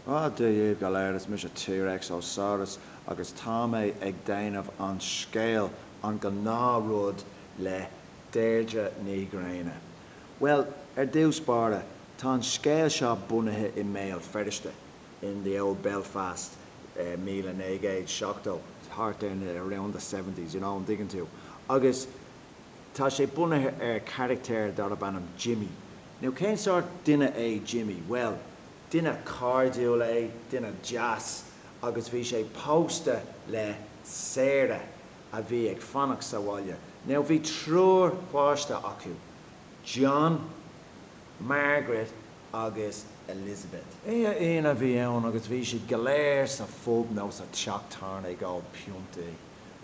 Dia daoibh go léir is mise T-Rex Ó Saurus agus tá mé ag déanamh an scéal An Gnáthrud le Deirdre Ní Ghrianna. Bhuel, ar dtús báire, tá an scéal seo bunaithe i mBéal Feirste, in the old Belfast, míle naoi gcéad seachtó, thart ar na, around the seventies, you know, an dtuigeann tú? Agus. Tá sé bunaithe ar charachtar darb ainm Jimmy. Now cén sórt duine é Jimmy? Bhuel, duine cairdiúil é, duine deas, agus bhí sé pósta le Sarah a bhí ag fanacht sa bhaile. Now bhí triúr páistí acu, John, Margaret agus Elizabeth. Oíche Aoine a bhí ann agus bhí siad go léir sa phub nó sa teach tábhairne ag ól piontaí.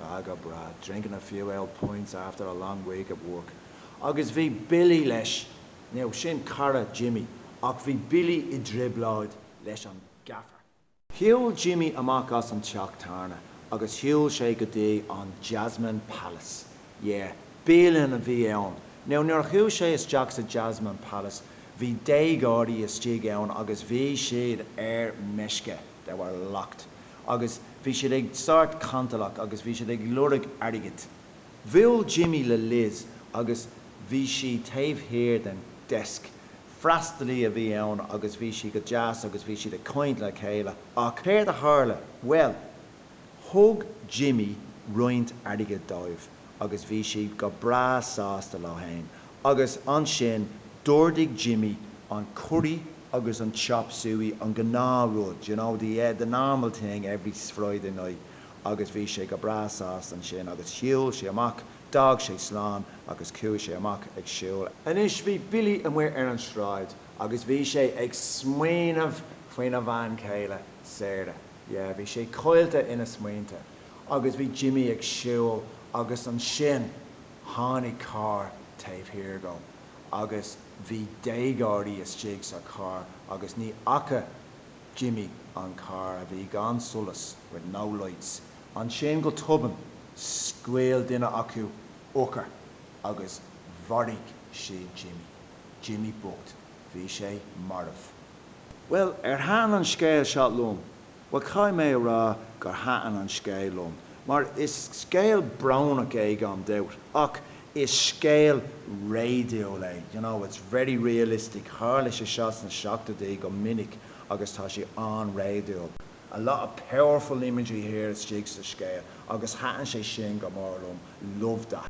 Agus bhí siad, drinking a few oul' pints after a long week at work. Agus bhí Billy leis. Now, sin cara Jimmy, ach bhí Billy i dtrioblóid leis an Gaffer. Shiúil Jimmy amach as an teach tábhairne agus shiúil sé go dtí an Jasmine Palace. Yeah, bialann a bhí ann. Now, nuair a chuaigh sé isteach sa Jasmine Palace, bhí déagóirí istigh ann agus bhí siad ar meisce, they were locked. Agus bhí siad sórt cantalach agus bhí siad ag lorg airgid. Bhuail Jimmy le Liz agus bhí sí taobh thiar den desk. Freastalaí a bhí ann agus bhí sí go deas agus bhí siad ag caint le chéile. Ach céard a tharla? Bhuel, thug Jimmy roinnt airgid dóibh. agus bhí siad go breá sásta leo féin, agus ansin d'ordaigh Jimmy an curry agus an chop suey, an gnáthrud, d'you know, the yeah, the normal thing every Friday night, agus bhí sé go breá sásta ansin, agus shiúil sé amach, d'fhág sé slán agus chuaigh sé amach ag siúl. Anois, bhí Billy amuigh ar an sráid agus bhí sé ag smaoineamh faoina bhean chéile, Sarah, yeah, bhí sé caillte ina smaointe, agus bhí Jimmy ag siúl agus ansin tháinig carr taobh thiar de agus bhí déagóirí istigh sa charr agus ní fhaca Jimmy an carr, a bhí gan solas, with no lights. Ansin go tobann scaoil duine acu urchar agus mharaigh siad Jimmy. Jimmy bocht, bhí sé marbh. Bhuel, ar thaitin an scéil seo liom, Bhuel, caithfidh mé a rá gur thaitin an scéal liom, mar is scéal brónach é gan dabht, ach is scéal réadúil é, you know, it's very realistic, tharla sé seo sna seachtóidí go minic agus tá sé an-réadúil, a lot of powerful imagery here istigh sa scéal agus thaitin sé sin go mór liom, love that.